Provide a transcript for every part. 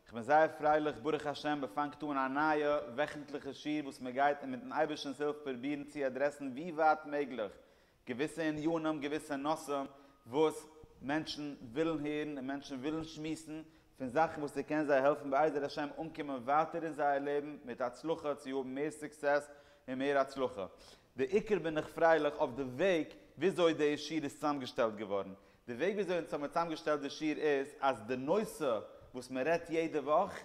כ'בין זייער פרייליך, ברוך השם, מ'פאנגט אן א נייע וועכנטליכע שיעור וואס מ'גייט און מיט'ן אייבערשטנ'ס הילף פרובירן צו אדרעסן ווי ווייט מעגליך געוויסע עניינים, געוויסע נושאים וואס מענטשן ווילן הערן און מענטשן ווילן שמועסן, פון זאכן וואס ס'קען זיי העלפן בעזר השם אנקומען ווייטער אין זייער לעבן מיט הצלחה צו האבן מער סוקסעס און מער הצלחה. בעיקר בין איך פרייליך אויף די וועג וויאזוי די שיעור איז צוזאמגעשטעלט געווארן, די וועג וויאזוי אונז האמיר צוזאם געשטעלט די שיעור איז אז די נושא וואס מען רעדט יעדע וואך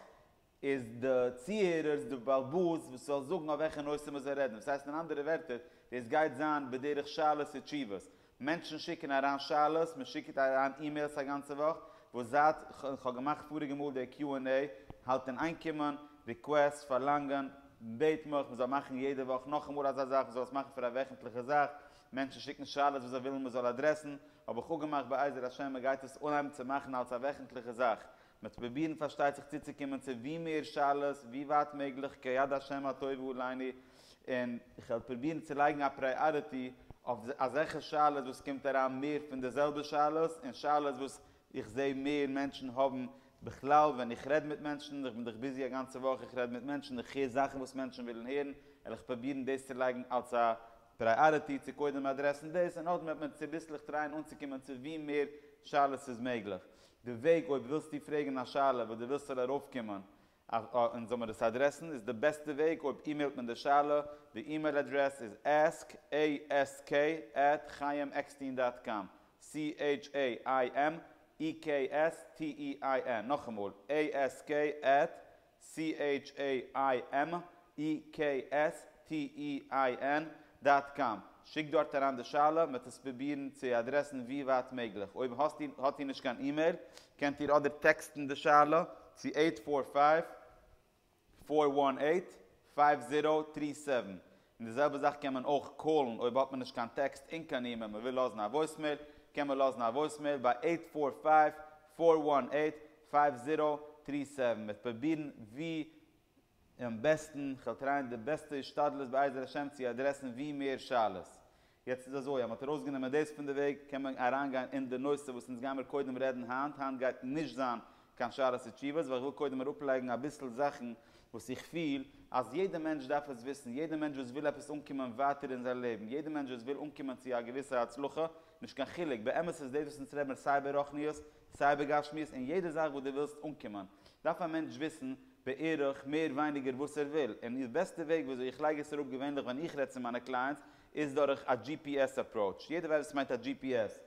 איז די צוהערערס די בלבוז וואס זאל זאגן אויף וועלכע נושא מען זאל רעדן וואס הייסט אין אנדערע ווערטער דאס גייט זיין בדרך שאלות ותשובות מענטשן שיקן אריין שאלות מען שיקט אריין אימעילס א גאנצע וואך וואס זייט כ'האב געמאכט פאריגע מאל די קיו ענד עי האלט אין איין קומען ריקוועסט פארלאנגען בעט מיך מען זאל מאכן יעדע וואך נאכאמאל אזא זאך מען זאל עס מאכן פאר א וועכנטליכע זאך. מענטשן שיקן שאלות וואס זיי ווילן מען זאל אדרעסן, האב איך אפגעמאכט בעזר השם מען גייט עס אנהייבן צו מאכן אלס א וועכנטליכע זאך, מען וועט פרובירן פארשטייט זיך צוצוקומען צו ווי מער שאלות ווי ווייט מעגליך כיד השם הטוב עלינו, און איך וועל פרובירן צו לייגן א פריאריטי אויף אזעלכע שאלות וואס קומט אריין מער פון די זעלבע שאלות, און שאלות וואס איך זע מער מענטשן האבן, בכלל ווען איך רעד מיט מענטשן, איך בין דאך ביזי א גאנצע וואך, איך רעד מיט מענטשן, איך הער זאכן וואס מענטשן ווילן הערן, וועל איך פרובירן דאס צו לייגן אלס א פרייאריטי צו קודם אדרעסן דאס און נאכדעם וועט מען צוביסלעך טרייען אנצוקומען צו ווי מער שאלות ס'איז מעגליך. די וועג אויב ווילסטו פרעגן א שאלה וואס דו ווילסט ס'זאל ארויפקומען און זאל מען עס אדרעסן איז די בעסטע וועג אויב אימעילט מען די שאלה, די אימעיל אדרעס איז ask, ASK, at chaimekstein דאט קאם, CHAIMEKSTEIN, נאכאמאל, ASK, at CHAIMEKSTEIN דאט קאם, שיק דארט אריין די שאלה, מ'וועט עס פרובירן צו אדרעסן ווי ווייט מעגליך. אויב האסט איר, האט איר נישט קיין אימעיל, קענט איר אדער טעקסטן די שאלה צו עיט פאר פייוו, פאר וואן עיט, פייוו זירא טרי סעווען. און די זעלבע זאך קען מען אויך קאלן אויב האט מען נישט קיין טעקסט און קיין אימעיל מען וויל לאזן א וואויסמעיל קען מען לאזן א וואויסמעיל ביי עיט פאר פייוו פאר וואן עיט פייוו זירא טרי סעווען מ'וועט פרובירן ווי און בעסטן כ'וועל טרייען די בעסטע השתדלות בעזר השם צו אדרעסן ווי מער שאלות יעצט איז אזוי, אז מ'האט ארויסגענומען דאס פון די וועג, קען מען אריינגיין אין די נושא וואס אונז גיימיר קודם רעדן היינט, היינט גייט נישט זיין קיין שאלות ותשובות, ווייל איך וויל קודם אראפלייגן אביסל זאכן וואס איך פיל אז יעדע מענטש דארף עס וויסן, יעדע מענטש וואס וויל עפעס אנקומען ווייטער אין זיין לעבן, יעדע מענטש וואס וויל אנקומען צו א געוויסע הצלחה, נישט קיין חילוק, באמת איז דאס וואס אונז רעדן מיר סיי ברוחניות, סיי בגשמיות, אין יעדע זאך וואס דו ווילסט אנקומען, דארף א מענטש וויסן בערך מער ווייניגער וואס ער וויל, און די בעסטע וועג וויאזוי איך לייג עס אראפ געווענליך ווען איך רעד צו מיינע קלייענטס, איז דורך א דזשי פי עס אפראוטש. יעדער ווייסט וואס מיינט א דזשי פי עס.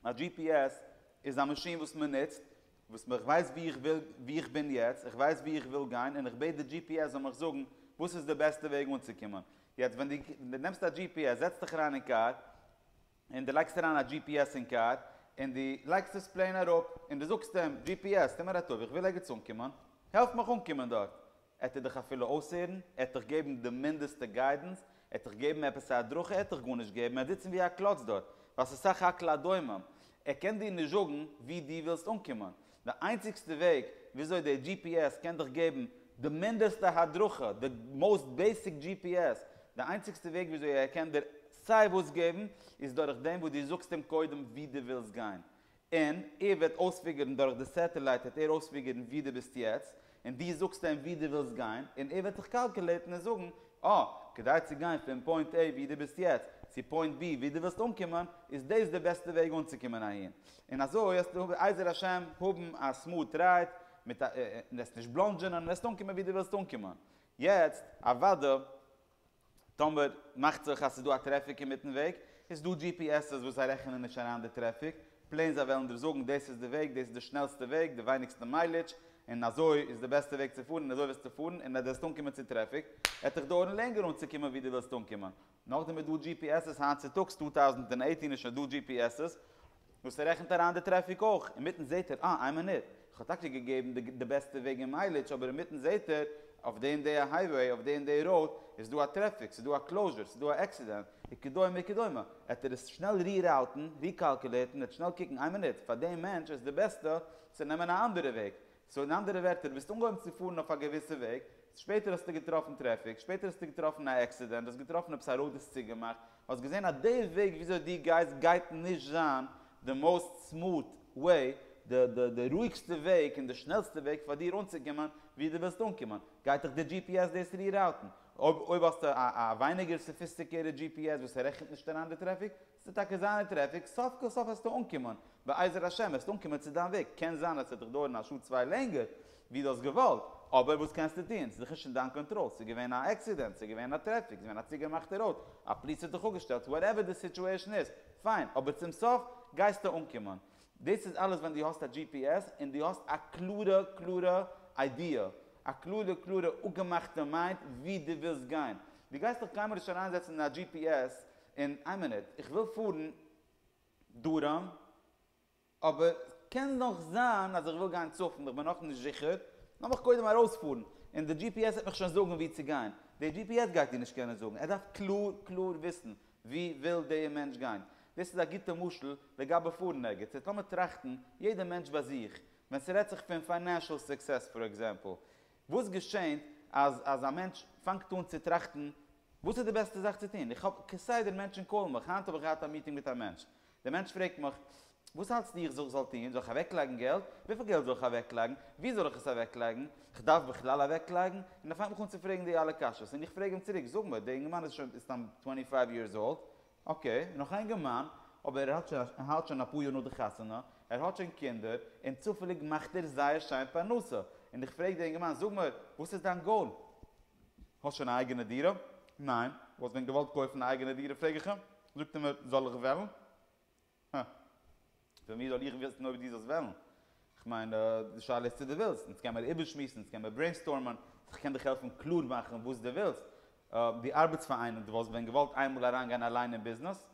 א דזשי פי עס איז א מאשין וואס מען נוצט, וואס איך ווייס וואו איך וויל, וואו איך בין יעצט, איך ווייס וואו איך וויל גיין, און איך בעט די דזשי פי עס זאל מיך זאגן וואס איז די בעסטע וועג אנצוקומען. יעצט ווען דו נעמסט א דזשי פי עס, זעצט דיך אריין אין קאר, און דו לייגסט אריין א דזשי פי עס אין קאר, און דו לייגסט עס פלעין אראפ, און דו זאגסט אים, דזשי פי עס, טו מיר א טובה, איך וויל ערגעץ אנקומען, העלף מיך אנקומען דארט. עט ער דיך אפילו אויסהערן? ער עט דיך געבן די מינדעסטע גיידענס? ער עט דיך געבן עפעס א הדרכה? ער עט דיך גארנישט געבן, ער עט זיצן ווי א קלאץ דארט, ווייל ס'איז סך הכל א דומם. ער קען דיר נישט זאגן וואו דו ווילסט אנקומען. די איינציגסטע וועג וויאזוי די דזשי פי עס קען דיך געבן די מינדעסטע הדרכה, די מאוסט בעיסיק דזשי פי עס, די איינציגסטע וועג וויאזוי ער קען דיר סיי וואס געבן, איז דורך דעם וואס דו זאגסט אים קודם ווי דו ווילסט גיין, און ער וועט אויספיגערן דורך די סעטעלייט וועט ער אויספיגערן ווי דו ביסט יעצט, און דו זאגסט אים וואו דו ווילסט גיין, און ער וועט זיך קאלקולעטן און זאגן, אה, כדי צו גיין פון פוינט A וואו דו ביסט יעצט, צו פוינט B וואו דו ווילסט אנקומען, איז דאס די בעסטע וועג אנצוקומען אהין. און אזוי וועסטו בעזר השם האבן א סמארט רייד, מיט א, און וועסט נישט בלאנדזשענען, און וועסט אנקומען וואו דו ווילסט אנקומען. יעצט, אוודא, טאמער מאכט זיך אז ס'איז דא א טרעפיק אינמיטן וועג, איז דא gps ס וואס זיי רעכענען נישט אריין די טרעפיק, פלעין זיי וועלן דיר זאגן דאס איז די וועג, דאס איז די שנעלסטע וועג, די ווייניגסטע מיילידזש, און אזוי איז די בעסטע וועג צו פארן און אזוי וועסטו פארן, און אז די וועסט אנקומען צו טרעפיק וועט דיך דויערן לענגער אנצוקומען ווי די ווילסט אנקומען. נאכדעם איז דא gps ס היינט צוטאגס צוויי טויזנט אַכצן איז שוין דא gps ס וואס ער רעכנט אריין די טרעפיק אויך, אינמיטן זעהט ער, אה, איין מינוט, איך האב טאקע געגעבן די בעסטע וועג אין מיילידזש, אבער אינמיטן זעהט ער, אויף די און די הייוועי, אויף די און די ראוד, איז דא א טרעפיק, ס'איז דא א קלאוזשער, ס'איז דא א עקסידענט, וכדומה וכדומה, עט ער עס שנעל ריראוטן, ריקאלקולעטן, עט שנעל קוקן, איין מינוט, פאר דעם מענטש איז די בעסטע צו נעמען א אנדערע וועג, סאו אין אנדערע ווערטער, דו ביסט אנגעהויבן צו פארן אויף א געוויסע וועג, שפעטער האסטו געטראפן טרעפיק, שפעטער האסטו געטראפן א עקסידענט, האסט געטראפן עפעס א ראוד איז צוגעמאכט, האסט געזען אז די וועג וויאזוי דו גייסט גייט נישט זיין די מאוסט סמאאט וועי, די רואיגסטע וועג און די שנעלסטע וועג פאר דיר אנצוקומען ווי דו ווילסט אנקומען, גייט דיך די דזשי פי עס דאס ריראוטן. אויב האסטו א ווייניגער סאפיסטיקירטעד דזשי פי עס וואס רעכנט נישט אריין די טרעפיק, ס'וועט טאקע זיין די טרעפיק, סוף כל סוף וועסטו אנקומען, בעזר השם וועסטו אנקומען צו דיין וועג, קען זיין אז ס'וועט דיך דויערן א שעה צוויי לענגער, ווי דו האסט געוואלט, אבער וואס קענסטו טון, ס'איז דיך נישט אין דיין קאנטראל, ס'איז געווען א עקסידענט, ס'איז געווען א טרעפיק, ס'איז געווען א צוגעמאכטע ראוד, א פליס האט דיך אפגעשטעלט, וואטעווער די סיטועשן איז, פיין, אבער צום סוף גייסטו אנקומען. דאס איז אלעס ווען דו האסט א gps און דו האסט א קלארע קלארע איידיע, א קלארע קלארע אפגעמאכטע מיינד ווי דו ווילסט גיין. דו גייסט דיך קיינמאל נישט אריינזעצן אין א gps און איין מינוט, איך וויל פארן דרום, אבער קען נאך זיין אז איך וויל גיין צפון, איך בין נאך נישט זיכער, לאמיך קודם ארויספארן, און די דזשי פי עס וועט מיך שוין זאגן וואו צו גיין, דער דזשי פי עס גייט דיר נישט קענען זאגן, ער דארף קלאר קלאר וויסן וואו וויל דער מענטש גיין, דאס איז א גוטע משל לגבי פארן ערגעץ, יעצט לאמיר טראכטן יעדער מענטש ביי זיך, ווען ס'רעדט זיך פון פיינענשעל סוקסעס פאר עקזעמפל, וואס געשענט אז אז א מענטש פאנגט אן צו טראכטן וואס איז די בעסטע זאך צו טון, איך האב כסדר מענטשן קאלן מיך, היינט האב איך געהאט א מיטינג מיט א מענטש, דער מענטש פרעגט מיך, וואס האלטסטו איך זאל זאל טון? זאל איך אוועקלייגן געלט? וויפיל געלט זאל איך אוועקלייגן? וואו זאל איך עס אוועקלייגן? איך דארף בכלל אוועקלייגן? און ער פאנגט מיך אן צו פרעגן די אלע קשיות, און איך פרעג אים צוריק, זאג מיר, דער אינגערמאן איז שוין סתם טווענטי פייוו יערס אולד, אקעי, נאך א אינגערמאן, אבער ער האט שוין ער האלט שוין אפאר יאר נאך די חתונה, ער האט שוין קינדער, און צופעליג מאכט ער זייער שיין פרנסה, און איך פרעג די אינגערמאן, זאג מיר, וואס איז דיין גאול? האסט שוין א אייגענע דירה? ניין. וואלסט ווען געוואלט קויפן א אייגענע דירה פרעג איך אים. זאגט ער מיר זאל איך וועלן? הא. פון ווי זאל איך וויסן אויב דו זאלסט וועלן? כ'מיין די שאלה איז צו דו ווילסט. אונז קען מיר איבערשמועסן, אונז קען מיר ברעינסטארמען, איך קען דיך העלפן קלאר מאכן וואס דו ווילסט. דו ארבעטסט פאר איינעם, דו וואלסט ווען געוואלט איינמאל אריינגיין אליין אין ביזנעס?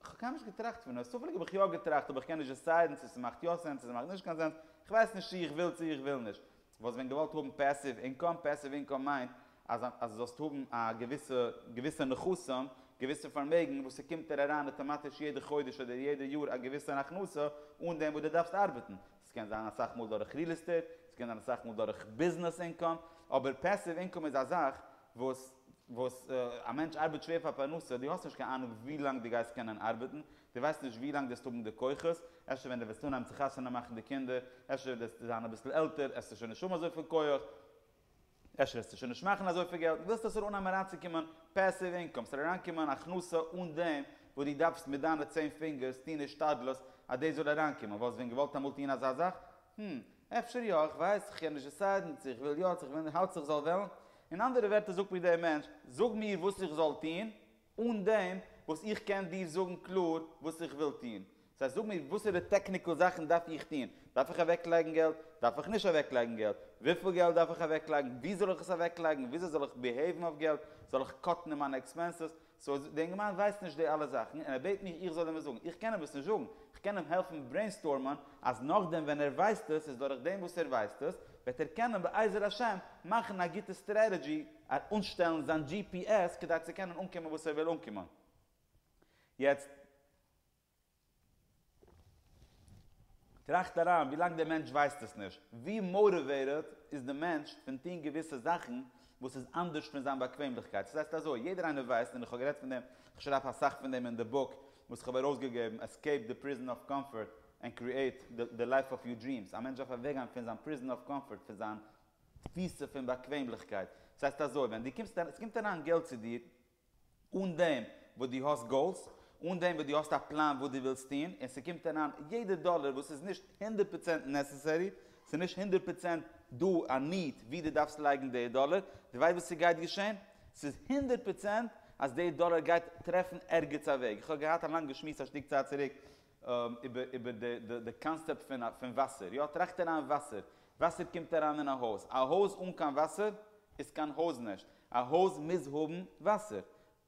כ'האב קיינמאל נישט געטראכט פון עס, צופעליג האב איך יא געטראכט אבער כ'קען נישט דעסיידן צו ס'מאכט יא סענס צו ס'מאכט נישט קיין סענס, כ'ווייס נישט צו איך וויל צו איך וויל נישט. וואלסט ווען געוואלט האבן פעסיוו אינקאם? פעסיוו אינקאם מיינט אז אז זאלסט האבן א געוויסע געוויסע נכסים, געוויסע פארמעגן וואס ס'קומט דיר אריין אוטאמאטיש יעדע חודש אדער יעדע יאר א געוויסע הכנסה אן דעם וואס דו דארפסט ארבעטן. ס'קען זיין אסאך מאל דורך ריעל עסטעיט, ס'קען זיין אסאך מאל דורך ביזנעס אינקאם, אבער פעסיוו אינקאם איז א זאך וואס וואס א מענטש ארבעט שווער פאר פרנסה, דו האסט נישט קיין אהנונג ווי לאנג דו גייסט קענען ארבעטן, דו ווייסט נישט ווי לאנג דו וועסט האבן די כוחות, אפשר ווען דו וועסט אנהייבן צו חתונה מאכן די קינדער, אפשר ווען דו וועסט זיין אביסל עלטער העסטו שוין נישט האבן אזויפיל כח, אפשר וועסטו שוין נישט מאכן אזויפיל געלט, דו ווילסט אפשר אנהייבן אריינצוקומען פעסיוו אינקאם, ס'זאל אריינקומען הכנסה אן דעם וואס דו דארפסט מיט דיינע צען פינגערס טון השתדלות אז דאס זאל אריינקומען, וואלסט ווען געוואלט אמאל טון אזא זאך? הום. אפשר יא, איך ווייס, איך קען נישט דיסיידן צו איך וויל יא צו איך וויל נישט, האלטסט איך זאל וועלן? אין אנדערע ווערטער זאגט מיר דער מענטש, זאג מיר וואס איך זאל טון, אן דעם וואס איך קען דיר זאגן קלאר וואס איך וויל טון. דאס הייסט זאג מיר וואסערע טעקניקעל זאכן דארף איך טון, דארף איך אוועקלייגן געלט, דארף איך נישט אוועקלייגן געלט, וויפיל געלט דארף איך אוועקלייגן, וואו זאל איך עס אוועקלייגן, וויאזוי זאל איך ביהעיוון אויף געלט, זאל איך קאטן אין מיינע עקספענסעס, סאו די אינגערמאן ווייסט נישט די אלע זאכן און ער בעט מיר איך זאל אים עס זאגן, איך קען אים עס נישט זאגן, איך קען אים העלפן ברעינסטורמען אז נאכדעם ווען ער ווייסט עס איז דורך דעם וואס ער ווייסט עס וועט ער קענען בעזר השם מאכן א גוטע סטרעטעדזשי אנשטעלן זיין gps כדי צו קענען אנקומען וואס ער וויל אנקומען יעצט. טראכט אריין, ווי לאנג דער מענטש ווייסט עס נישט, ווי מאוטיוועיטעד איז די מענטש פון טון געוויסע זאכן וואס איז אנדערש פון זיין באקוועמליכקייט. עס הייסט אזוי, יעדער איינער ווייסט, און איך האב גערעדט פון דעם, איך שרייב אסאך פון דעם אין די בוק וואס איך האב ארויסגעגעבן, Escape the Prison of Comfort and Create the Life of Your Dreams, א מענטש דארף אוועקגיין פון זיין Prison of Comfort, פון זיין תפיסה פון באקוועמליכקייט. עס הייסט אזוי, ווען דו קומסט אריין, עס קומט אריין געלט צו דיר, אן דעם וואס דו האסט גאולס, אן דעם וואס דו האסט א פלאן וואס דו ווילסט טון, און ס'קומט אריין יעדע דאלער וואס איז נישט הונדערט פראצענט נעסעסערי, ס'איז נישט הונדערט פראצענט דא א ניד ווי דו דארפסט לייגן די דאלער, דו ווייסט וואס ס'גייט געשען? ס'איז הונדערט פראצענט אז די דאלער גייט טרעפן ערגעץ א וועג. איך האב געהאט א לאנגע שמועס א שטיק צייט צוריק, איבער די קאנסעפט פון וואסער, יא טראכט אריין וואסער, וואסער קומט אריין אין א הויז, א הויז אן קיין וואסער איז קיין הויז נישט, א הויז מוז האבן וואסער,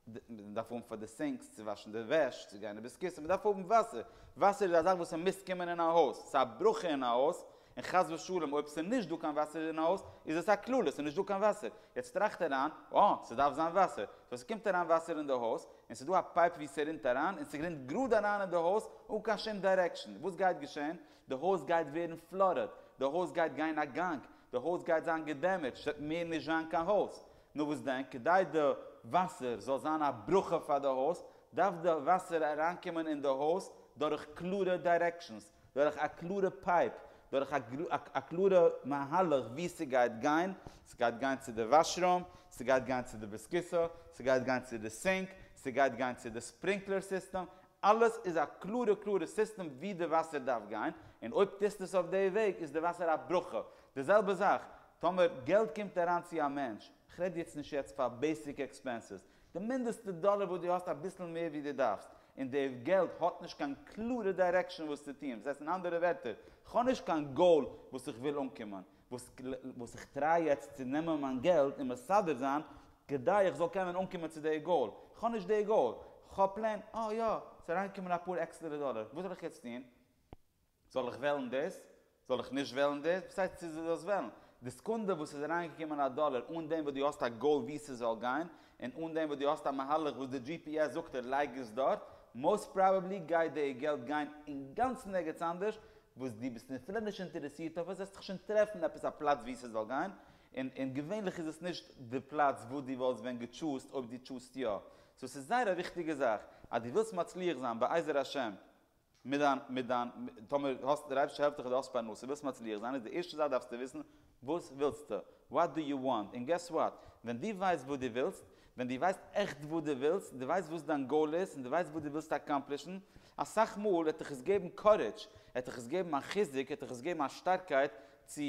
מען דארף האבן פאר די סינקס, צו וואשן די וועש, צו גיין איבער'ס קיסע, מען דארף האבן וואסער, וואסער איז א זאך וואס מוז קומען אין א הויז, ס'איז א ברכה אין א הויז, און חס ושלום אויב ס'איז נישט דא קיין וואסער אין הויז, איז עס א כללה, ס'איז נישט דא קיין וואסער. יעצט טראכט אריין, אה, ס'דארף זיין וואסער. סאו ס'קומט אריין וואסער אין די הויז, און ס'איז דא א פייפ ווי ס'רינט אריין, און ס'רינט גראד אריין אין די הויז, אן קיין שום דיירעקשאן. וואס גייט געשען? די הויז גייט ווערן פלאדעד. די הויז גייט גיין א גאנג. די הויז גייט זיין געדעמעדזשט. ס'וועט מער נישט זיין קיין הויז. נו וואס דען? כדי די וואסער זאל זיין א ברכה פאר די הויז, דארף די וואסער אריינקומען אין די הויז דורך קלארע דיירעקשאנס. דורך א קלארע פייפ, דורך א קלארע מהלך וואו ס'גייט גיין, ס'גייט גיין צו די וואש רום, ס'גייט גיין צו די ביסקיסא, ס'גייט גיין צו די סינק, ס'גייט גיין צו די ספרינקלער סיסטעם, אלעס איז א קלארע קלארע סיסטעם וואו די וואסער דארף גיין, און אויב טוסטו עס אויף די וועג איז די וואסער א ברכה. די זעלבע זאך טאמער געלט קומט אריין צו א מענטש, כ'רעד יעצט נישט יעצט פאר בעיסיק עקספענסעס, די מינדעסטע דאלער וואס דו האסט אביסל מער ווי דו דארפסט, און די געלט האט נישט קיין קלארע דיירעקשאן וואס צו טוען, וואס הייסט אין אנדערע ווערטער, כ'האב נישט קיין גאול וואס איך וויל אנקומען, וואס איך טריי יעצט צו נעמען מיין געלט און מסדר זיין כדי איך זאל קענען אנקומען צו די גאול, כ'האב נישט די גאול, כ'האב פלעין, אה יא, ס'איז אריינגעקומען אפאר עקסטערע דאלער, וואס זאל איך יעצט טון? זאל איך וועלן דאס? זאל איך נישט וועלן דאס? וואס הייסט צו דו זאלסט וועלן? די סעקונדע וואס ס'איז אריינגעקומען א דאלער אן דעם וואס דו האסט א גאול וואו ס'זאל גיין, און אן דעם וואס דו האסט א מהלך וואס די gps זאגט דיר לייג עס דארט, מאוסט פראבעבלי גייט די געלט גיין אינגאנצן ערגעץ אנדערש וואס דו ביסט אפילו נישט אינטערעסירט אויף עס, וועסטעך שוין טרעפן עפעס א פלאץ וואו ס'זאל גיין, און און געווענליך איז עס נישט די פלאץ וואס דו וואלסט ווען געטשוזט אויב דו טוסט יא. סאו ס'איז זייער א וויכטיגע זאך אז דו ווילסט מצליח זיין בעזר השם, מיט דיין, מיט דיין, טאמער האסט, דער אייבערשטער העלפט דיך און דו האסט פרנסה, ווילסט מצליח זיין, איז די ערשטע זאך דארפסטו וויסן וואס ווילסטו, וואט דו יו וואנט, און געס וואט, ווען דו ווייסט וואס דו ווילסט, ווען דו ווייסט עכט וואס דו ווילסט, און דו ווייסט וואס דיין גאול איז, און דו ווייסט וואס דו ווילסט אקאמפלישן, אסאך מאל וועט דיך עס געבן קארעדזש, עט דיך עס געבן א חיזוק, עט דיך עס געבן א שטארקייט צו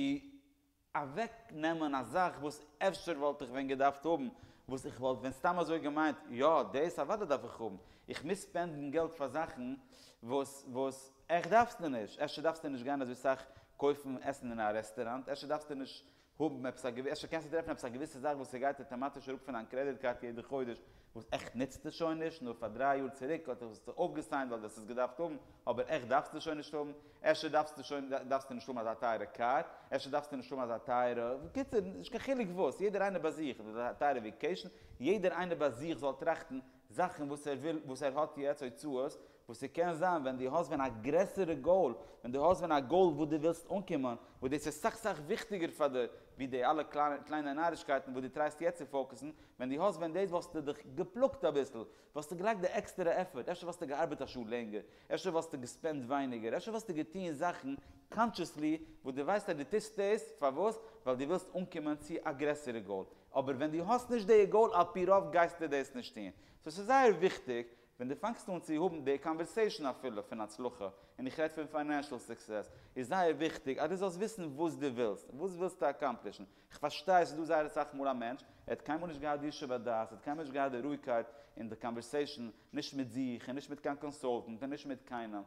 אוועק נעמען א זאך וואס אפשר וואלט איך ווען געדארפט האבן, וואס איך וואלט ווען סתם אזוי געמיינט יא דאס אוודאי דארף איך האבן, איך מוז ספענדן געלט פאר זאכן וואס וואס עכט דארפסטו נישט, אפשר דארפסטו נישט גיין אזוי סאך קויפן עסן אין א רעסטעראנט, אפשר דארפסטו נישט האבן עפעס א געוויסע, אפשר קענסטו טרעפן עפעס א געוויסע זאך וואס ס'גייט אטאמאטיש אראפ פון דיין קרעדיט קארט יעדע חודש, וואס עכט נוצט עס שוין נישט, נאר פאר דריי יאר צוריק האט עס זיך אויפגעסיינט ווייל דו האסט עס געדארפט האבן, אבער עכט דארפסטו שוין נישט האבן, אפשר דארפסטו שוין דארפסטו נישט האבן אזא טייערע קאר, אפשר דארפסטו נישט האבן אזא טייערע, בקיצור נישט קיין חילוק וואס, יעדער איינער ביי זיך, אדער אזא טייערע וועקעישן, יעדער איינער ביי זיך זאל טראכטן זאכן וואס ער וויל, וואס ער האט יעצט הוצאות, וואס ס'קען זיין ווען דו האסט ווען א גרעסערע גאול, ווען דו האסט ווען א גאול וואו דו ווילסט אנקומען, וואס דאס איז סאך סאך וויכטיגער פאר דיר ווי די אלע קליינע נארישקייטן וואס דו טרייסט יעצט צו פאוקעסן, ווען דו האסט ווען דאס וואלסטו דיך געפלאגט אביסל, וואלסטו געלייגט די עקסטערע עפפארט, אפשר וואלסטו געארבעט א שעה לענגער, אפשר וואלסטו געספענדט ווייניגער, אפשר וואלסטו געטון זאכן קאנטשעסלי וואס דו ווייסט אז דו טוסט דאס פארוואס? ווייל דו ווילסט אנקומען צו א גרעסערע גאול, אבער ווען דו האסט נישט די גאול על פי רוב גייסטו דאס נישט טון, סאו ס'איז זייער וויכטיג ווען דו פאנגסט אן צו האבן די קאנווערסעישאן אפילו פון הצלחה, און איך רעד פון פיינענשאל סוקסעס, איז זייער וויכטיג אז דו זאלסט וויסן וואס דו ווילסט, וואס ווילסטו אקאמפלישן? איך פארשטיי ס'איז דא זייער אסאך מאל א מענטש, ער האט קיינמאל נישט געהאט די ישוב הדעת, ער האט קיינמאל נישט געהאט די רואיגקייט אין די קאנווערסעישאן, נישט מיט זיך, און נישט מיט קיין קאנסולטענט, און נישט מיט קיינעם,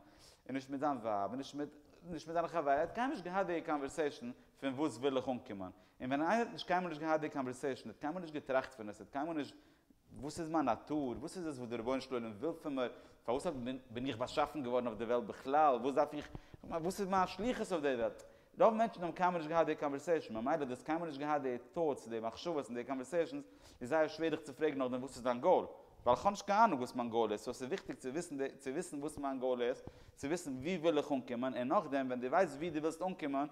און נישט מיט זיין ווייב, און נישט מיט נישט מיט זיינע חברים, ער האט קיינמאל נישט געהאט די קאנווערסעישאן פון וואס וויל איך אנקומען? און ווען איינער האט נישט קיינמאל נישט געהאט די קאנווערסעישאן, האט קיינמאל נישט געטראכט פון עס, האט קיינמאל נישט וואס איז מיין נאטור? וואס איז עס וואס דער רבונו של עולם וויל פון מיר? פארוואס בין איך באשאפן געווארן אויף דער וועלט בכלל? וואס דארף איך? וואס איז מיין שליחות אויף דער וועלט? רוב מענטשן האבן קיינמאל נישט געהאט די קאנווערסעישאן, ממילא דו האסט קיינמאל נישט געהאט די טאוטס, די מחשבות און די קאנווערסעישאנס, איז זייער שווער דיך צו פרעגן נאכדעם וואס איז דיין גאול? ווייל איך האב נישט קיין אהנונג וואס מיין גאול איז, סאו עס איז וויכטיג צו וויסן צו וויסן וואס מיין גאול איז, צו וויסן וואו וויל איך אנקומען, און נאכדעם ווען דו ווייסט וואו דו ווילסט אנקומען,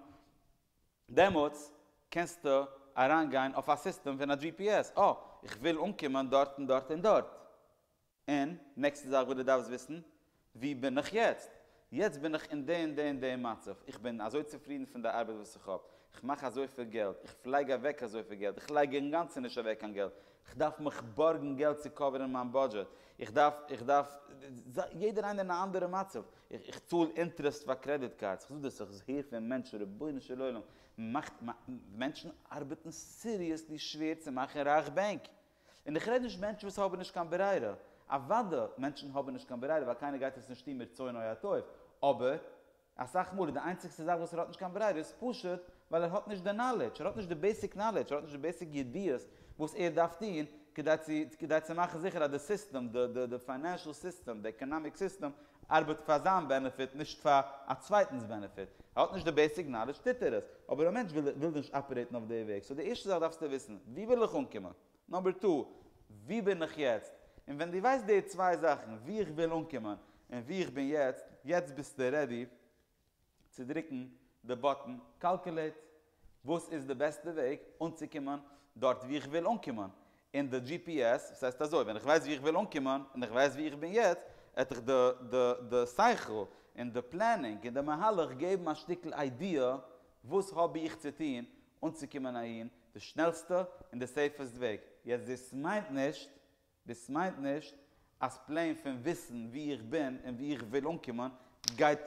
דעמאלטס קענסטו אריינגיין אויף א סיסטעם פון א gps, אה, איך וויל אנקומען דארט און דארט און דארט. און נעקסטע זאך וואס דו דארפסט וויסן, וואו בין איך יעצט? יעצט בין איך אין די און די און די מצב, איך בין אזוי צופרידן פון די ארבעט וואס איך האב, איך מאך אזויפיל געלט, איך פלעג אוועק אזויפיל געלט, איך לייג אינגאנצן נישט אוועק קיין געלט, איך דארף מיך בארגן געלט צו קאווערן מיין בודזשעט, איך דארף, איך דארף, יעדער איינער אין א אנדערע מצב, איך צאל אינטערעסט פאר קרעדיט קארדס, איך זאג דאס, איך הער פון מענטשן, רבונו של עולם, מאכט, מענטשן ארבעטן סיריעסלי שווער צו מאכן רייך בענק, און איך רעד נישט מענטשן וואס האבן נישט קיין ברירה, אוודא מענטשן האבן נישט קיין ברירה ווייל קיינער גייט עס נישט טון מרצונו הטוב, אבער אסאך מאל איז די איינציגסטע זאך וואס ער האט נישט קיין ברירה איז פשוט ווייל ער האט נישט די נאלעדזש, ער האט נישט די בעיסיק נאלעדזש, ער האט נישט די בעיסיק ידיעות וואס ער דארף טון כדי צו מאכן זיכער אז די סיסטעם, די פיינענשעל סיסטעם, די עקאנאמיק סיסטעם, ארבעט פאר זיין בענעפיט נישט פאר א צווייטנס בענעפיט. ער האט נישט די בעיסיק נאלעדזש טוט ער עס, אבער א מענטש וויל נישט אפערעיטן אויף די וועג. סאו די ערשטע זאך דארפסטו וויסן, וואו וויל איך אנקומען? נאמבער טו, וואו בין איך יעצט? און ווען דו ווייסט די צוויי זאכן, וואו איך וויל אנקומען און וואו איך בין יעצט, יעצט ביסטו רעדי צו דרוקן די באטן קאלקולעיט וואס איז די בעסטע וועג אנצוקומען דארט ווי איך וויל אנקומען, און די דזשי פי עס ס'הייסט אזוי ווען איך ווייס ווי איך וויל אנקומען און איך ווייס ווי איך בין יעצט העט איך די די די שכל און די פלענינג און די מהלך געבן א שטיקל איידיע וואס האב איך צו טון אנצוקומען אהין די שנעלסטע און די סעיפעסט וועג, יעצט דאס מיינט נישט דאס מיינט נישט אז פלעין פון וויסן וואו איך בין און וואו איך וויל אנקומען גייט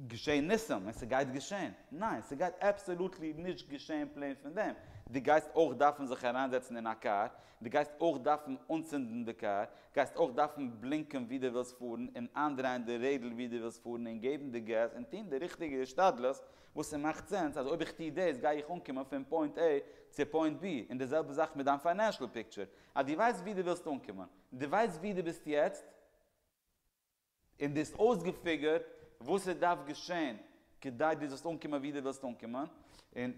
געשען ניסים און ס'גייט געשען. ניין, ס'גייט אבסאלוטלי נישט געשען פלעין פון דעם. דו גייסט אויך דארפן זיך אריינזעצן אין א קאר, דו גייסט אויך דארפן אנצינדן די קאר, גייסט אויך דארפן בלינקען וואו דו ווילסט פארן און איינדרייען די רעדל וואו דו ווילסט פארן און געבן די געז און טון די ריכטיגע השתדלות וואס ס'מאכט סענס אז אויב איך טו דאס גיי איך אנקומען פון פוינט עי צו פוינט בי און די זעלבע זאך מיט דיין פיינענשל פיקטשער אז דו ווייסט וואו דו ווילסט אנקומען, און דו ווייסט וואו דו ביסט יעצט, און דו האסט אויסגעפיגערט וואס עס דארף געשען כדי דו זאלסט אנקומען וואו דו ווילסט אנקומען, און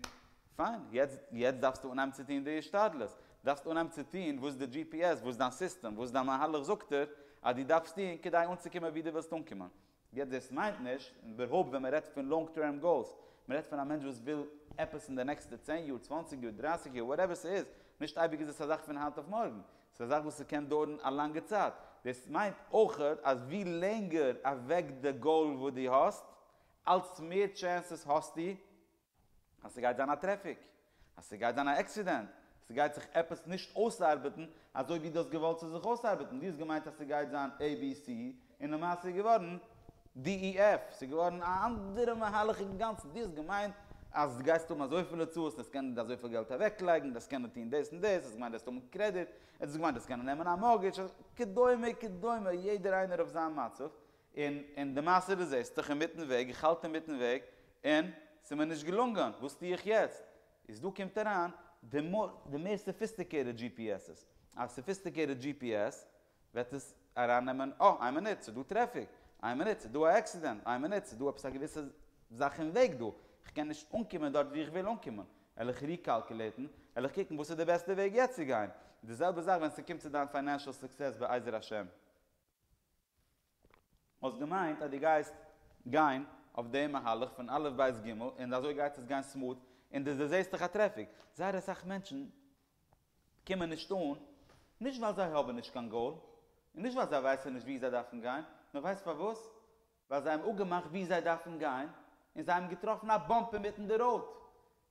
פיין, יעצט דארפסטו אנהייבן צו טון די השתדלות, דארפסט אנהייבן צו טון וואס די gps, וואס דיין סיסטעם, וואס דיין מהלך זאגט דיר אז דו דארפסט טון כדי אנצוקומען וואו דו ווילסט אנקומען. יעצט דאס מיינט נישט, און איבערהויפט ווען מען רעדט פון לאנג טערם גאולס, מען רעדט פון א מענטש וואס וויל עפעס אין די נעקסטע צען יאר, צוואנציג יאר, דרייסיג יאר, וואטעווער ס'איז, נישט אייביג איז עס א זאך פון היינט אויף מארגן, ס'איז א זאך וואס ס'קען דויערן א לאנגע צייט, דאס מיינט אויכעט אז ווי לענגער אוועק די גאול וואס דו האסט, אלץ מער טשענסעס האסטו אז ס'גייט זיין א טרעפיק, אז ס'גייט זיין א עקסידענט, ס'גייט זיך עפעס נישט אויסארבעטן אזוי ווי דו האסט געוואלט ס'זאל זיך אויסארבעטן, דו האסט געמיינט אז ס'גייט זיין עי בי סי און למעשה איז געווארן די אי עף, ס'איז געווארן א אנדערע מהלך אינגאנצן, דו האסט געמיינט אז דו גייסט האבן אזויפיל הוצאות, דו וועסט קענען אזויפיל געלט אוועקלייגן, דו וועסט קענען טון דאס און דאס, דו האסט געמיינט דו וועסט האבן קרעדיט, דו האסט געמיינט דו וועסט קענען נעמען א מארגעדזש, כדומה כדומה, יעדער איינער אויף זיין מצב, און און די מעשה די זעסט דיך אינמיטן וועג, איך האלט אינמיטן וועג, און ס'איז מיר נישט געלונגען, וואס טו איך יעצט? איז דא קומט אריין די די מער סאפיסטיקעיטעד דזשי פי עס'ס, א סאפיסטיקעיטעד דזשי פי עס וועט עס אריין נעמען, אה איין מינוט ס'איז דא טרעפיק, איין מינוט ס'איז דא א עקסידענט, איין מינוט ס'איז דא עפעס א געוויסע זאך אין וועג דא, איך קען נישט אנקומען דארט ווי איך וויל אנקומען, על איך ריקאלקעלעיטן, על איך קוקן וואס איז די בעסטע וועג יעצט צו גיין, די זעלבע זאך ווען ס'קומט צו דיין פיינענשעל סוקסעס בעזר השם. האסט געמיינט אז דו גייסט גיין אויף די מהלך פון א' ב' ג' און אזוי גייט עס גיין סמאד און דו דערזעסט דיך א טרעפיק. זייער אסאך מענטשן קומען נישט אן, נישט ווייל זיי האבן נישט קיין גאול, און נישט ווייל זיי ווייסן נישט וואו זיי דארפן גיין, נאר ווייסט פארוואס? ווייל זיי האבן אפגעמאכט וואו זיי דארפן גיין, און זיי האבן געטראפן א באמפ אינמיטן די ראוד,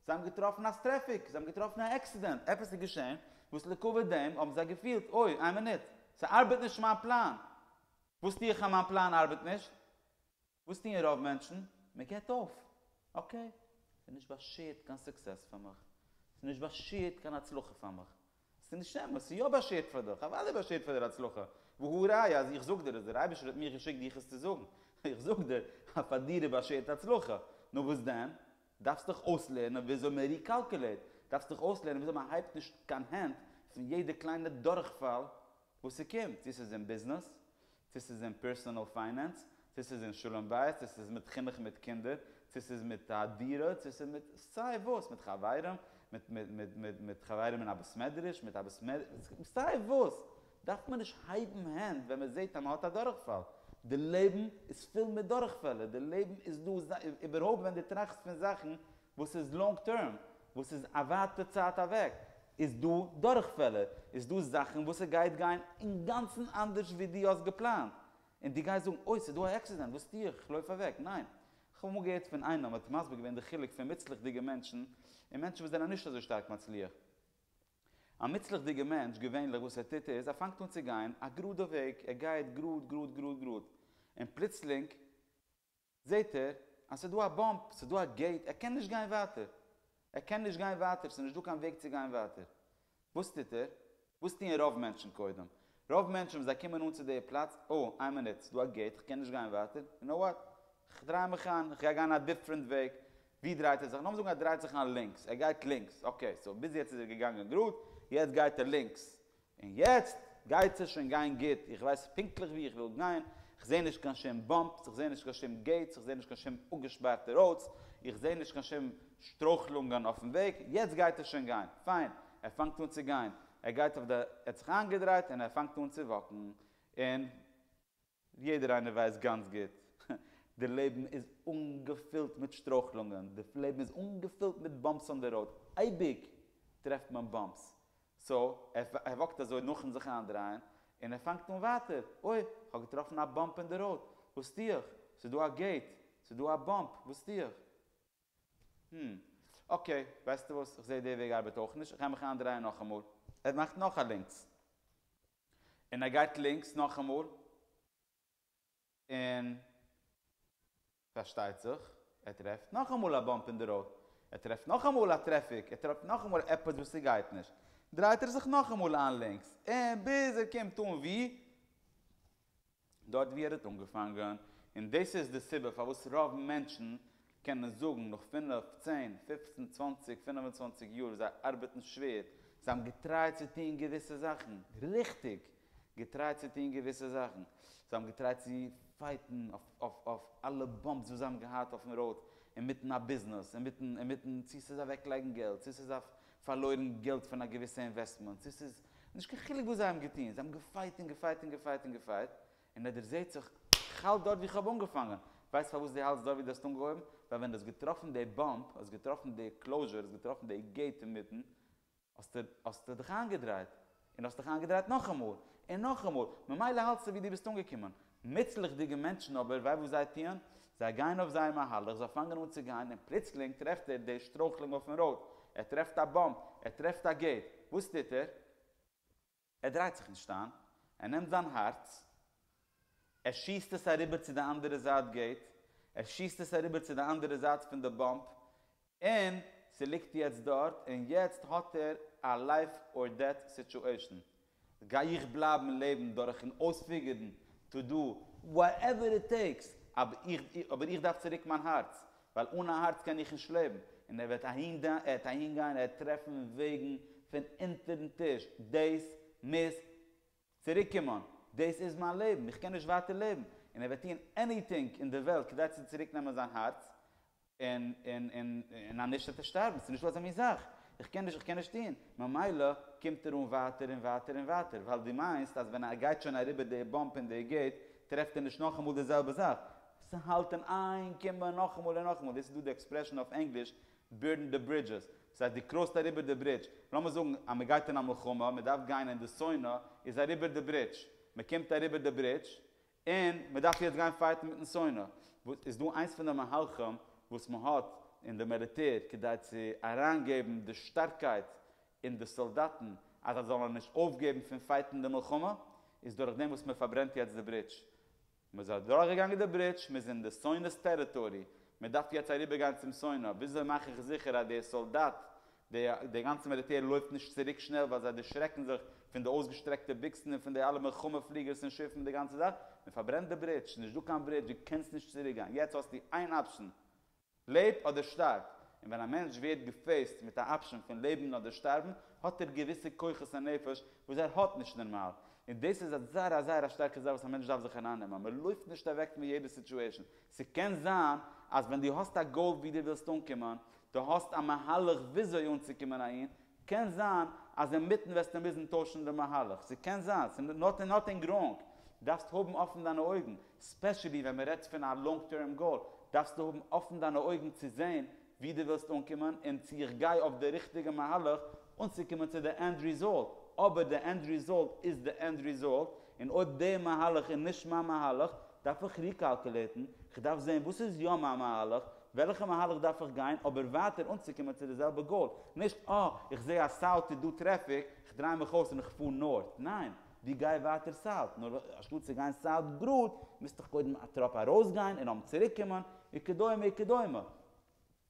זיי האבן געטראפן אז טרעפיק, זיי האבן געטראפן א עקסידענט, עפעס איז געשען, וואס לעקאווע דעם האבן זיי געפילט, אוי, איין מינוט, ס'ארבעט נישט מיין פלאן, וואס טו איך אז מיין פלאן ארבעט נישט? וואס טוען רוב מענטשן? מ'געבט אויף, אקעי, ס'איז נישט באשירט קיין סוקסעס פאר מיך, ס'איז נישט באשירט קיין הצלחה פאר מיך, ס'איז נישט אמת, ס'איז יא באשערט פאר דיך, אוודאי באשערט פאר דיר הצלחה, והא ראיה אז איך זאג דיר עס, דער אייבערשטער האט מיך געשיקט דיך עס צו זאגן, איך זאג דיר אז פאר דיר איז באשערט הצלחה, נו וואס דען? דארפסט דיך אויסלערנען וויאזוי מען ריקאלקולעיט, דארפסט דיך אויסלערנען וויאזוי מען הייבט נישט קיין הענט פון יעדע קליינע דורכפאל, וואס ס'קומט, צו ס'איז אין ביזנעס, צו ס'איז אין פערסאנעל פיינענס, צו ס'איז אין שלום בית, צו ס'איז מיט חינוך מיט קינדער, צו ס'איז מיט א דירה, צו ס'איז מיט סיי וואס, מיט חברים, מיט חברים אין א בית מדרש, מיט א בית מדרש, סיי וואס, דארף מען נישט הייבן הענט ווען מען זעט אז מען האט א דורכפאל. די לעבן איז פול מיט דורכפעלער, די לעבן איז דא, איבערהויפט ווען דו טראכסט פון זאכן וואס איז לאנג טערם, וואס איז א ווייטע צייט אוועק, איז דא דורכפעלער, איז דא זאכן וואס עס גייט גיין אינגאנצן אנדערש ווי דו האסט געפלאנט, און דו גייסט זאגן אוי ס'איז דא א עקסידענט, וואס טו איך, כ'לויף אוועק, ניין. כ'האב אמאל געהערט פון איינעם וואס האט מסביר געווען די חילוק פון מוצלח'דיגע מענטשן און מענטשן וואס זענען נישט אזוי שטארק מצליח. א מוצלח'דיגע מענטש, געווענליך וואס ער טוט איז, ער פאנגט אן צו גיין א גראדע וועג, ער גייט גראד גראד גראד גראד, און פלוצלינג זעהט ער אז ס'איז דא א באמפ, ס'איז דא א געיט, ער קען נישט גיין ווייטער. ער קען נישט גיין ווייטער, ס'איז נישט דא קיין וועג צו גיין ווייטער. וואס טוט ער? וואס טוען רוב מענטשן קודם? רוב מענטשן ווען זיי קומען אן צו די פלאץ, אה, איין מינוט, ס'איז דא א געיט, כ'קען נישט גיין ווייטער, יו קנאו וואט? כ'דריי מיך איין, כ'גיי גיין א דיפרענט וועג. ווי דרייט ער זיך? לאמיר זאגן ער דרייט זיך איין לינקס, ער גייט לינקס, אקעי, סאו ביז יעצט איז ער געגאנגען גראד, יעצט גייט ער לינקס. און יעצט גייט עס שוין גיין גוט, איך ווייס פונקטליך ווי איך וויל גיין, איך זעה נישט קיין שום באמפס, איך זעה נישט קיין שום געיטס, איך זעה נישט קיין שום אפגעשפארטע ראודס, איך זעה נישט קיין שום שטרויכלונגען אויפן וועג, יעצט גייט עס שוין גיין, פיין, ער פאנגט אן צו גיין, ער גייט אויף די, ער האט זיך איינגעדרייט און ער פאנגט אן צו וואקן, און. ווי יעדער איינער ווייסט גאנץ גוט, די לעבן איז אנגעפילט מיט שטרויכלונגען, די לעבן איז אנגעפילט מיט באמפס אן די ראוד, אייביג טרעפט מען באמפס, סאו ער וואקט אזוי נאכן זיך איינדרייען, און ער פאנגט אן ווייטער, אוי, איך האב געטראפן א באמפ אין די ראוד, וואס טו איך? ס'איז דא א געיט, ס'איז דא א באמפ, וואס טו איך? הום, אקעי, ווייסטו וואס, איך זעה די וועג ארבעט אויך נישט, איך גיי מיך איינדרייען נאכאמאל. ער מאכט נאך א לינקס. און ער גייט לינקס נאכאמאל, און פארשטייט זיך ער טרעפט נאכאמאל א באמפ אין די ראוד, ער טרעפט נאכאמאל א טרעפיק, ער טרעפט נאכאמאל עפעס וואס ס'גייט נישט, דרייט ער זיך נאכאמאל איין לינקס, און ביז ער קומט אן ווי. דארט ווי ער האט אנגעפאנגען, און דאס איז די סיבה פארוואס רוב מענטשן קענען זאגן נאך פינף, צען, פופצן, צוואנציג, פינף און צוואנציג יאר ווי זיי ארבעטן שווער, זיי האבן געטרייט צו טון געוויסע זאכן, ריכטיג! געטרייט צו טון געוויסע זאכן, זיי האבן געטרייט צו פייטן אויף אלע באמפס וואס זיי האבן געהאט אויפן ראוד, אינמיטן א ביזנעס, אינמיטן צו ס'איז אוועקלייגן געלט, צו ס'איז אויף פארלוירן געלט פון א געוויסע אינוועסטמענט, צו ס'איז נישט קיין חילוק וואס זיי האבן געטון, זיי האבן געפייט און געפייט און געפייט און געפייט, און ער דערזעהט זיך, איך האלט דארט ווי כ'האב אנגעפאנגען, ווייסט פארוואס דו האלטסט דארט ווי דו האסט אנגעהויבן? ווייל ווען דו האסט געטראפן די באמפ, האסט געטראפן די קלאוזשור, האסט געטראפן די געיט אינמיטן, האסטו דיך איינגעדרייט, און האסט דיך איינגעדרייט נאכאמאל, און נאכאמאל, ממילא האלטסטו ווי דו ביסט אנגעקומען. מוצלח'דיגע מענטשן אבער, וויי וואס זיי טוען? זיי גייען אויף זייער מהלך, זיי פאנגען אן צו גיין, און פלוצלינג טרעפט ער די שטרויכלונג אויפן ראוד, ער טרעפט א באמפ, ער טרעפט א געיט, וואס טוט ער? ער דרייט זיך נישט איין, ער נעמט זיין הארץ, ער שיסט עס אריבער צו די אנדערע זייט געיט, ער שיסט עס אריבער צו די אנדערע זייט פון די באמפ, און ס'ליגט יעצט דארט, און יעצט האט ער א לייף אר דעט סיטואשען, גיי איך בלייבן לעבן דורכן אויספיגערן טו דו וואטעווער איט טעיקס, אבער איך דארף צוריק מיין הארץ, ווייל אן א הארץ קען איך נישט לעבן, און ער וועט אהין גיין, ער וועט טרעפן וועגן פון אונטערן טיש, דעיס מוז צוריק קומען, דאס איז מיין לעבן, איך קען נישט ווייטער לעבן, און ער וועט טוען עניטינג אין די וועלט כדי צו צוריק נעמען זיין הארץ, און און און און אז נישט וועט ער שטארבן, ס'איז נישטא אזא מין זאך, איך קען נישט איך קען נישט טוען, ממילא קומט ער אן ווייטער און ווייטער און ווייטער, ווייל דו מיינסט אז ווען ער גייט שוין אריבער די באמפ אין די געיט טרעפט ער נישט נאכאמאל די זעלבע זאך, ס'האלט אים איין קומען נאכאמאל און נאכאמאל, דאס איז דא די עקספרעשאן אויף ענגליש בורן די ברידזשעס, דאס הייסט דו קראסט אריבער די ברידזש, לאמיר זאגן אז מען גייט אין א מלחמה, מען דארף גיין אין די סאונע, איז אריבער די ברידזש, מען קומט אריבער די ברידזש, און מען דארף יעצט גיין פייטן מיטן סאונע, וואס איז דא איינס פון די מהלכים וואס מען האט אין די מיליטער כדי צו אריינגעבן די שטארקייט אין די סאלדאטן אז זיי זאלן נישט אויפגעבן פון פייטן די מלחמה, איז דורכדעם וואס מען פארברענט יעצט די ברידזש. מ'איז אדורך געגאנגען די ברידזש, מ'איז אין די סוינעס טעריטארי, מ'דארף יעצט אריבער גיין צום סוינע, וויאזוי מאך איך זיכער אז די סאלדאט, די די גאנצע מיליטער לויפט נישט צוריק שנעל ווייל זיי דערשרעקן זיך פון די אויסגעשטרעקטע ביקסן און פון די אלע מלחמה פליגערס און שיפן און די גאנצע זאך, מ'פארברענט די ברידזש, ס'איז נישט דא קיין ברידזש, דו קענסט נישט צוריק גיין, יעצט האסטו איין אפשן, לעב אדער שטארב, און ווען א מענטש ווערט געפעיסט מיט א אפשען פון לעבן אדער שטארבן, האט ער געוויסע כוחות הנפש וואס ער האט נישט נארמאל, און דאס איז א זייער א זייער א שטארקע זאך וואס א מענטש דארף זיך ארייננעמען, מען לויפט נישט אוועק פון יעדע סיטועשאן, ס'קען זיין אז ווען דו האסט א גאול ווי דו ווילסט אנקומען, דו האסט א מהלך וויאזוי אנצוקומען אהין, קען זיין אז אינמיטן וועסטו מוזן טוישן די מהלך, ס'קען זיין, ס'איז נאטינג ראנג, דארפסט האבן אפן דיינע אויגן, ספעשעלי ווען מ'רעדט פון א לאנג טערם גאול, דארפסטו האבן אפן דיינע אויגן צו זען ווי דו ווילסט אנקומען און צו איך גיי אויף די ריכטיגע מהלך אנצוקומען צו די ענד ריזאלט, אבער די ענד ריזאלט איז די ענד ריזאלט, און אויב די מהלך איז נישט מיין מהלך, דארף איך ריקאלקולעיטן, כ'דארף זען וואס איז יא מיין מהלך, וועלכע מהלך דארף איך גיין אבער ווייטער אנצוקומען צו די זעלבע גאול? נישט אה, איך זעה אז סאוט איז דא טרעפיק, איך דריי מיך אויס און איך פאר נארט. ניין, ווי גיי ווייטער סאוט, נאר אנשטאט צו גיין סאוט גראד, מוז איך קודם א טראפ ארויסגיין און נאכדעם צוריקקומען, וכדומה וכדומה.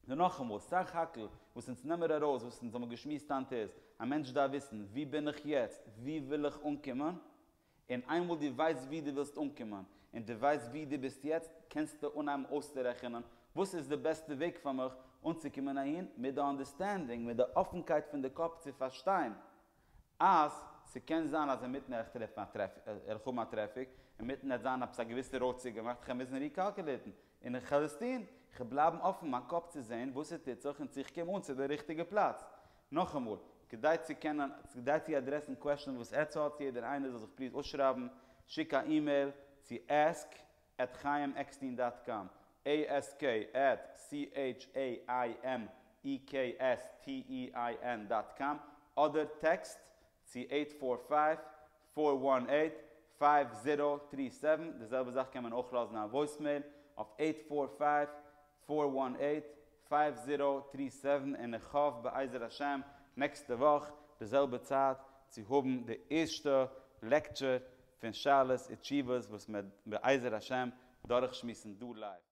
נאר נאכאמאל, סך הכל וואס אונז נעמער ארויס, וואס אונז האבן געשמועסט היינט איז, א מענטש דארף וויסן, ווי בין איך יעצט? וואו וויל איך אנקומען? און איינמאל דו ווייסט וואו דו ווילסט אנקומען, און דו ווייסט וואו דו ביסט יעצט, קענסטו אנהייבן אויסצורעכענען וואס איז די בעסטע וועג פאר מיך אנצוקומען אהין, מיט די אנדערסטענדינג, מיט די אפנקייט פון די קאפ צו פארשטיין אז ס'קען זיין אז אינמיטן וועל איך טרעפן א טרעפיק, וועל איך האבן א טרעפיק, אינמיטן וועט זיין עפעס א געוויסע ראוד צוגעמאכט, איך וועל מוזן ריקאלקעליטן, און איך וועל עס טון, איך וועל בלייבן אפן מיין קאפ צו זען וואס ס'טוט זיך און צו איך קום אן צו די ריכטיגע פלאץ, נאכאמאל, כדי צו קענען, כדי צו אדרעסן קוועשאן וואס עטץ האט, יעדער איינער זאל זיך פליז אויסשרייבן, שיק א אימעיל צו עסק עט חיים עקסטין דאט קאם, עי עס קעי עט סי עיטש עי איי עם אי קעי עס טי אי איי ען דאט קאם, אדער טעקסט צו עיט פאר פייוו פאר וואן עיט פייוו זירא טרי סעווען, די זעלבע זאך קען מען אויך לאזן א וואויסמעיל אויף עיט פאר פייוו פאר וואן עיט פייוו זירא טרי סעווען און איך האף בעזר השם נעקסטע וואך די זעלבע צייט צו האבן די ערשטע לעקטשור פון שאלות ותשובות וואס מען וועט בעזר השם דורכשמועסן דא לייוו.